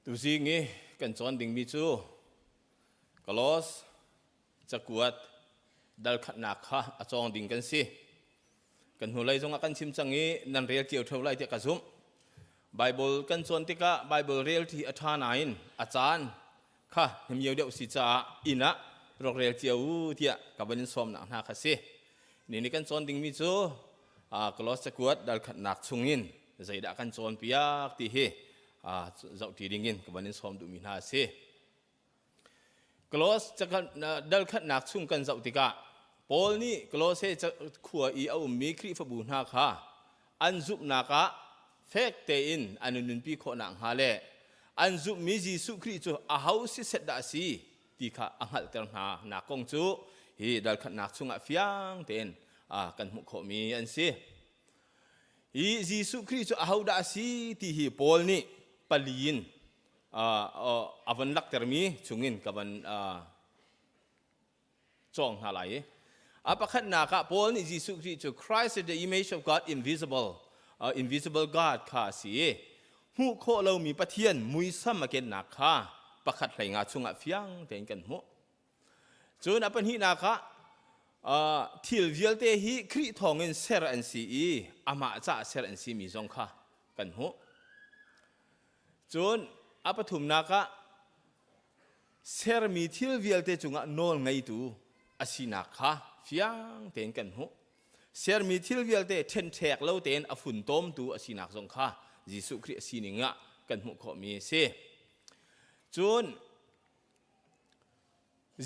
Tuzing i kan cawn dingmi cu Kolos cakuat dalkhatnak kha a cawng ding kan si. Kan hnulei zongah kan chim cang i nan rel cio ṭheo lai tiah ka zumh. Baibal kan cawn tikah Baibal relṭi a ṭha nain a caan kha hnemio deuh si caah inn ah rokrel cio u tiah ka van in sawmnak hna kha si ni ni kan cawn dingmi cu klos cakuat dalkhatnak chung in zeidah kan cawn piak ti hi zohti ding in ka van in sawm duhmi hna si klos dalkhatnak chung kan zoh tikah Paul nih Kolose khua i a ummi Khrihfabu hna kha an zumhnak ah fek tein an in nunpi khawhnak hnga le an zumhmi Jesuh Khrih cu aho si set dah a si ti kha a hngalhter hna nak kong cu hi dalkhatnak chungah fiang tein kan hmuh khawhmi an si hi Jesuh Khrih cu aho dah a si ti hi Paul nih pali in a van laktermi chungin ka van cawng hna lai i a pakhatnak ah Paul nih Jesuh Khrih cu Christ is the image of God invisible uh, invisible God kha a si i hmuh khawh lomi Pathian muisam a kennak kha pakhat hleinga chungah fiang tein kan hmuh cun a pahnihnak ah uh, thil vialte hi Khrih thawngin ser an si i amah caah ser an si mi zong kha kan hmuh cun a pathumnak ah sermi thil vialte cungah nawl ngeitu a sinak kha fiang tein kan hmuh. Sermi thil vialte ṭhenṭhek lo tein a funtomtu a sinak zong kha Jesuh Khrih a sining ah kan hmuh khawhmi a si. Cun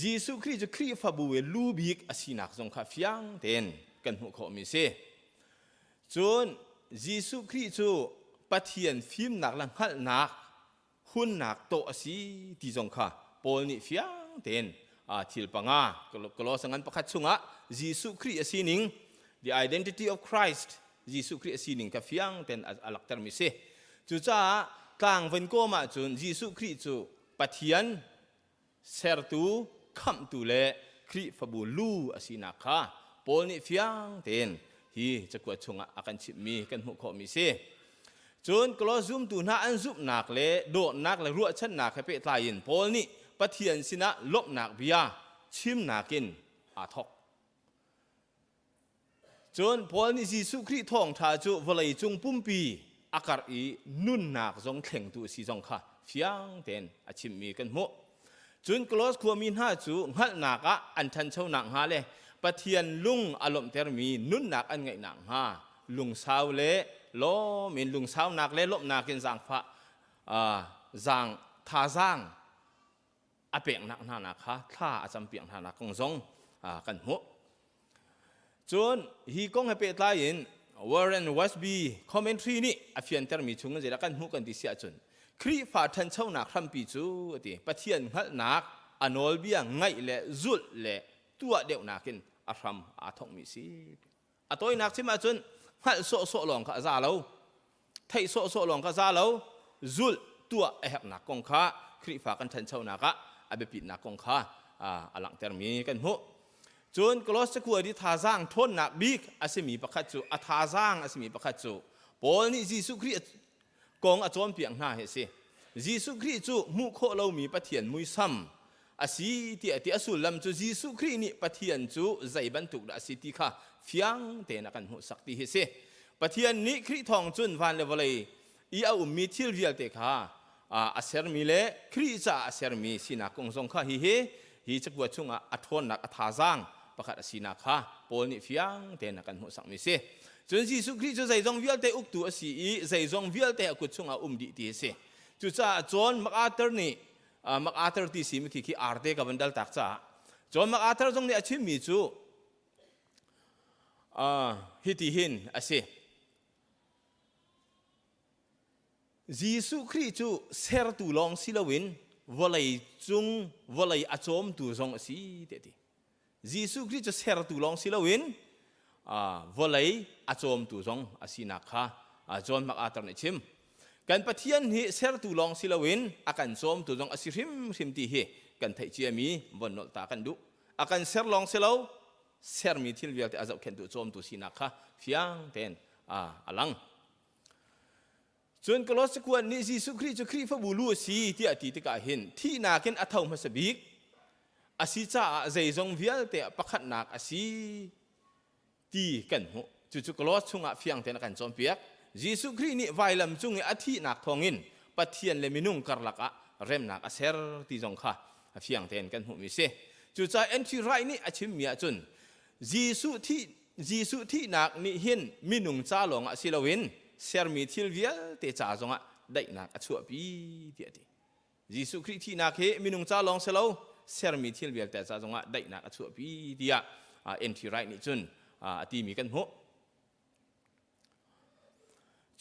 Jesuh Khrih cu Khrihfabu i lu bik a sinak zong kha fiang tein kan hmuh khawhmi a si. Cun Jesuh Khrih cu Pathian fimnak le hngalhnak hunnak tawh a si ti zong kha Paul nih fiang tein thil panga Colossians ngan pakhat chungah Jesuh Khrih a sining the identity of Christ Jesuh Khrih a sining kha fiang tein a langhtermi si cucaah tlangvan kawm ahcun Jesuh Khrih cu Pathian Sertu, Khamhtu le Khrihfabu lu a sinak kha Paul nih fiang tein hi cakuat chungah a kan chimhmi kan hmuh khawhmi si. Cun Koloss zumtu hna an zumhnak le dawtnak le ruahchannak he pehtlai in Paul nih Pathian sinah lawmhnak bia chimnak in aa thawk. Cun Paul nih Jesuh Khrih thawngṭha cu vawleicung pumpi a karh i nunnak zong thlengtu a si zong kha fiang tein a chimmi kan hmuh. Cun Koloss khuami hna cu hngalhnak ah an ṭhancho nakhnga le Pathian lung a lawmhtermi nunnak an ngeih nakhnga lungsau le lawm in lungsaunak le lawmhnak in zaangfah, uh, zaang thazaang a peknak hna kha thla a campiak hna kong zong kan hmuh. Cun hi kong he pehtlai in Warren Westby commentary nih a fiantermi chung in zeidah kan hmuh kan ti si ahcun Khrihfa ṭhanchonak hrampi cu a ti Pathian hngalhnak a nawlbia ngaih le zulh le tuah deuhnak in a hram aa thawkmi si. a tawinak chim ahcun hngalh sawhsawh lawng kha a za lo theih sawhsawh lawng kha za lo zulh tuah a herhnak kong kha Khrihfa kan ṭhanchonak ah a biapitnak kong kha a langhtermi kan hmuh cun Kolos cakuat i thazaang ṭhawnnak bik a simi pakhat cu a thazaang a simi pakhat cu Paul nih Jesuh Khrih kong a cawnpiak hna hi a si. Jesuh Khrih cu hmuh khawh lomi Pathian muisam a si tiah ti a sullam cu Jesuh Khrih nih Pathian cu zei bantuk dah a si ti kha fiang tein a kan hmuhsak ti hi si. Pathian nih Khrih thawng cun van le vawlei i a ummi thil vialte kha a sermi le Khrih caah a sermi sinak kong zong kha hihi Hi cakuat chungah a ṭhawnnak a thazaang pakhat a sinak kha Paul nih fiang tein a kan hmuhsakmi a si. Cun Jesuh Khrih cu zeizong vialte uktu a si i zeizong vialte a kut chungah um dih ti a si. Cucaah John MacArthur nih MacArthur ti simithi khi arte ka van daltak caah John MacArthur zong nih a chimmi cu hiti hin a si. Jesuh Khrih cu sertu lawng si loin vawlei cung vawlei a cawmtu zong a si te ti. Jesuh Khrih cu sertu lawng si loin vawlei a cawmtu zong a sinak kha John MacArthur nih chim. Kan Pathian hi sertu lawng si loin a kan cawmtu zong a si hrimhrim ti hi kan theih ciami von nolh ta kan duh. A kan ser lawng si lo, sermi thil vialte a zohkhenhtu cawmtu sinak kha fiang tein a lang. Cun Kolossi khuan nih Jesuh Khrih cu Khrihfabu lu a si tiah a ti tikah hin thihnak in a tho hmasa bik a si caah zeizong vialte ah pakhatnak a si ti kan hmuh. Cucu Kolos chungah fiang tein a kan cawnpiak. Jesuh Khrih nih vailam cung i a thihnak thawngin Pathian le minung karlak ah remnak a ser ti zong kha a fiang tein kan hmuhmi a si. Cucaah Andrew Wright nih a chimmi ahcun Jesuh thihnak nih hin minung ca lawngah si loin sermi thil vialte ca zongah daihnak a chuahpi tiah a ti. Jesuh Khrih thihnak hi minung ca lawng si lo sermi thil vialte ca zongah daihnak a chuahpi tiah N.T. Wright nih cun a timi kan hmuh.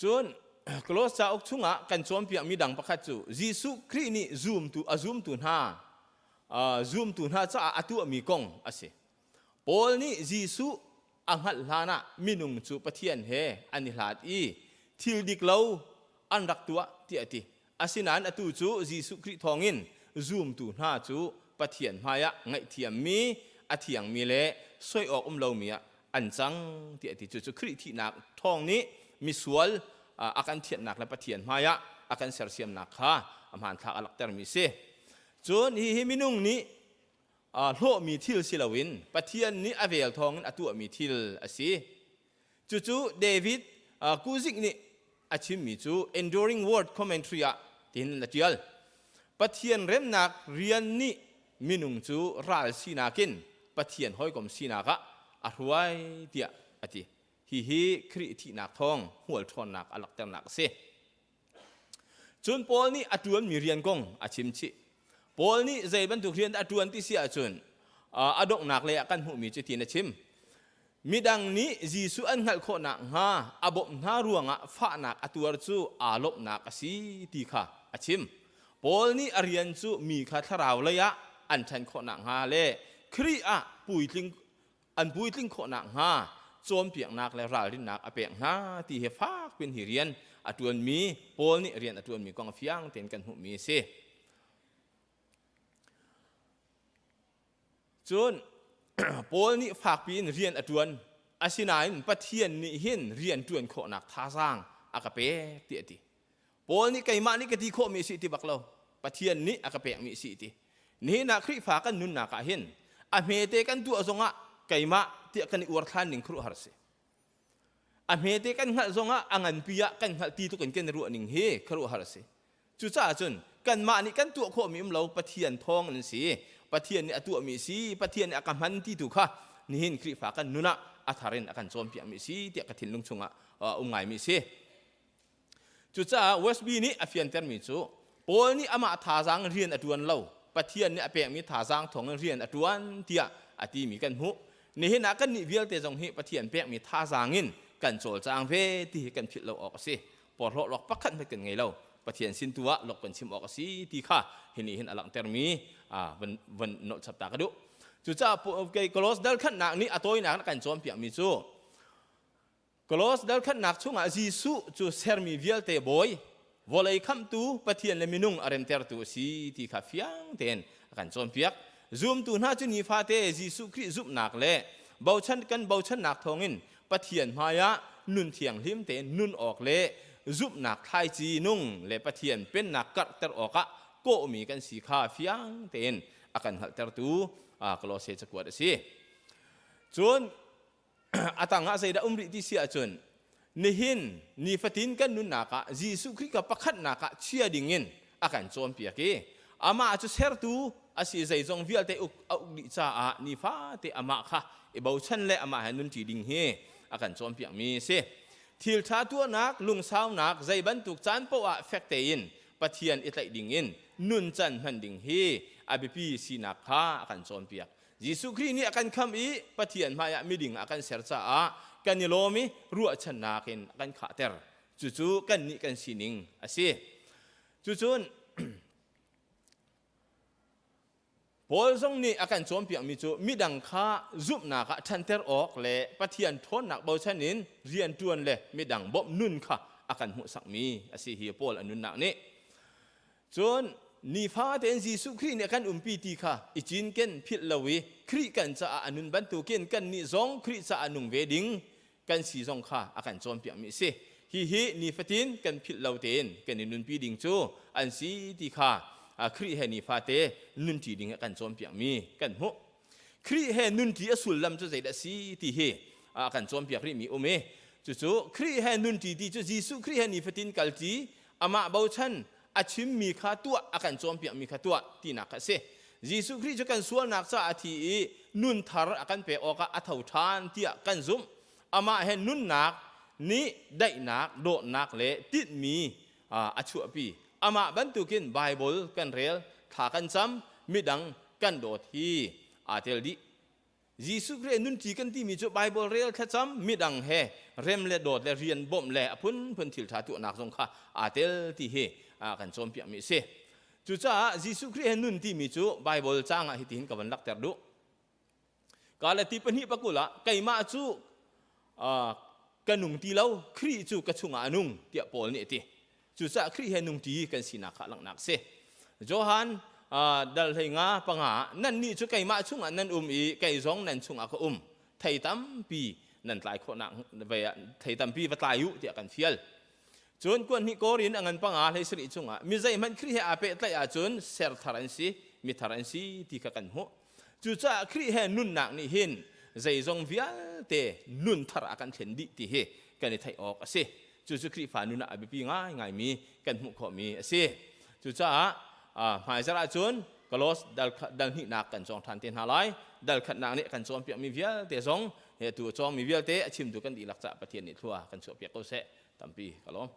Cun Koloss cauk chungah kan cawnpiakmi dang pakhat cu Jesuh Khrih nih zumtu a zumtu hna zumtu hna caah a tuahmi kong a si. Paul nih Jesuh a hngalh hlanah minung cu Pathian he an i hlat i thil dik lo an rak tuah tiah a ti. Asinain atu cu Jesuh Khrih thawngin zumtu hna cu Pathian hmaiah ngaihthiammi, a thiangmi le soi awk um lomi ah an cang tiah a ti. Cucu Khrih thihnak thawng nih misual a kan thianhnak le Pathian hmaiah a kan sersiamnak kha a hmanthlak a langhtermi a si. Cun hihi minung nih hlawhmi thil si loin Pathian nih a vel thawngin a tuahmi thil a si. Cucu David Kuzik nih a chimmi cu Enduring Word Commentary ah tin a ṭial. Pathian remnak rian nih minung cu ral sinak in Pathian hawikom sinak ah a hruai tiah a ti. Hihi Khrih thihnak thawng hmual ṭhawnnak a langhternak a si. Cun Paul nih a ṭuanmi rian kong a chimchih. Paul nih zei bantuk rian dah a ṭuan ti si ahcun a donghnak lei ah kan hmuhmi cu tiin a chim. Midang nih Jesuh an hngalh khawh nakhnga a bawmh hna ruangah fahnak a tuar cu aa lawmhnak a si ti kha a chim. Paul nih a rian cu mi kha thlarau lei ah an ṭhan khawh nakhnga le Khrih ah puitling an puitling khawhnak hnga cawnpiaknak le ralrinnak a pek hna ti he fak piin hi rian a ṭuanmi Paul nih rian a ṭuanmi kong fiang tein kan hmuhmi a si. Cun Paul nih fakpi in rian a ṭuan asinain Pathian nih hin rian ṭuan khawhnak thazaang a ka pek tiah a ti. Paul nih keimah nih ka ti khawhmi si ti bak lo Pathian nih a ka pekmi si ti nihin ah Khrihfa kan nunnak ah hin a hmete kan tuah zongah keimah tiah kan i uar than ning khuruhar si a hmete kan hngalh zongah a nganpi ah kan hngalh ti tluk in kan i ruah ning hi khuruhar si cucaah cun kanmah nih kan tuah khawhmi um lo Pathian thawng in si Pathian nih a tuahmi si Pathian nih a ka hman ti tu kha nihin Khrihfa kan nun ah a thar in a kan cawnpiakmi si tiah ka thinlung chungah uh, um ngaimi si Cucaah USB nih a fiantermi cu Paul nih amah thazaang in rian a ṭuan lo, Pathian nih a pekmi thazaang thawngin rian a ṭuan tiah a timi kan hmuh. Nihin ah kannih vialte zong hi Pathian pekmi thazaang in kan cawlcang ve ti hi kan philh lo awk a si. Porhlawtluak pakhat hmanh kan ngei lo. Pathian sin tu ah lok kan chim awk a si ti kha hi nih hin a langhtermi van, van nolh chapta ka duh. Cucaah Kolos dalkhannak nih a tawinak in a kan cawnpiakmi cu Kolos dothlatnak chungah Jesuh cu sermi vialte bawi vawlei khamhtu Pathian le minung a remtertu a si ti kha fiang tein a kan cawnpiak. Zumtu hna cu nifate Jesuh Khrih zumhnak le bochan kan bochannak thawngin Pathian hmaiah nun thianghlim tein nun awk le zumhnak thlaici nung le Pathian pennak karhter awkah kawhmi kan si kha fiang tein a kan hngalhtertu Kolose cakuat a si. Cun a tangah zeidah um rih ti si ahcun nihin nifatin kan nunnak ah Jesuh Khrih ka pakhatnak ah chia dingin a kan cawnpiak i amah cu sertu a si zeizong vialte uk a uk dih caah nifate amah kha i bochan le amah he nunṭi ding hi a kan cawnpiakmi a si thilṭha tuahnak lungsaunak zei bantuk caan paohah fek tein Pathian i tlaih dingin nuncan hman ding hi a biapi sinak kha a kan cawnpiak Jesuh Khrih nih a kan khamh i Pathian hmaiah miding ah a kan ser caah kan i lawm i ruahchannak in a kan khahter. Cucu kannih kan sining a si. Cucun Paul zong nih a kan cawnpiakmi cu midang kha zumhnak ah ṭhanter awk le Pathian ṭhawnnak bochan in rianṭuan le midang bawmh nun kha a kan hmuhsakmi a si hi Paul a nunnak nih Cun nifate in Jesuh Khrih nih kan umpi ti kha i cinken philh lo i Khrih kan caah a nun bantukin kannih zong Khrih caah nung ve ding kan si zong kha a kan cawnpiakmi a si. Hihi nifatin kan philh lo tein kan i nunpi ding cu an si ti kha Khrih he nifate nunṭi ding a kan cawnpiakmi kan hmuh. Khrih he nunṭi a sullam cu zeidah a si ti hi a kan cawnpiak rihmi um i cucu Khrih he nunṭi ti cu Jesuh Khrih he nifatin kalṭi amah bochan a chimmi kha tuah a kan cawnpiakmi kha tuah tinak kha a si. Jesuh Khrih cu kan sualnak caah a thi i nun thar a kan pek awkah a tho ṭhan tiah kan zumh. Amah he nunnak nih daihnak, dawtnak le tinhmi a chuahpi. Amah bantukin Baibal kan rel, thla kan cam, midang kan dawt hi aa tel dih. Jesuh Khrih nunṭi kan timi cu Baibal rel, thlacam, midang he rem le dawt le rian bawmh le a phunphun thilṭha tuahnak zong kha aa tel ti hi kan cawnpiakmi a si. Cucaah Jesuh Khrih he nun timi cu Baibal caang ah hitihin ka van langhter duh. ka le ti pahnih pakul ah keimah cu ka nung ti lo Khrih cu ka chungah a nung tiah Paul nih a ti cucaah Khrih he nung ti kan sinak kha langhnak si Johan dal hlei nga panga nannih cu keimah chungah nan um i kei zong nan chungah ka um thei tampi nan tlai khawhnak thei tampi va tlai u tiah kan fial cun kuan hnih korin a ngan panga hlei sarih chungah mi zeihmanh Khrih he aa pehtlaih ahcun ser thar an si mi thar an si ti kha kan hmuh Cucaah Khrih he nunnak nih hin zeizong vialte nun thar a kan thlen dih ti hi kan i theih awk a si. Cucu Khrihfa nun ah a biapi ngaingaimi kan hmuh khawhmi a si. Cucaah hmaizarh ahcun Kolos dalhnihnak kan cawng ṭhan te hna lai. Dalkhatnak nih kan cawnpiakmi vialte zong he tu a cawngmi vialte a chimtu kan dihlak caah Pathian nih thlua kan chuahpiak ko seh. Tampi ka lawm.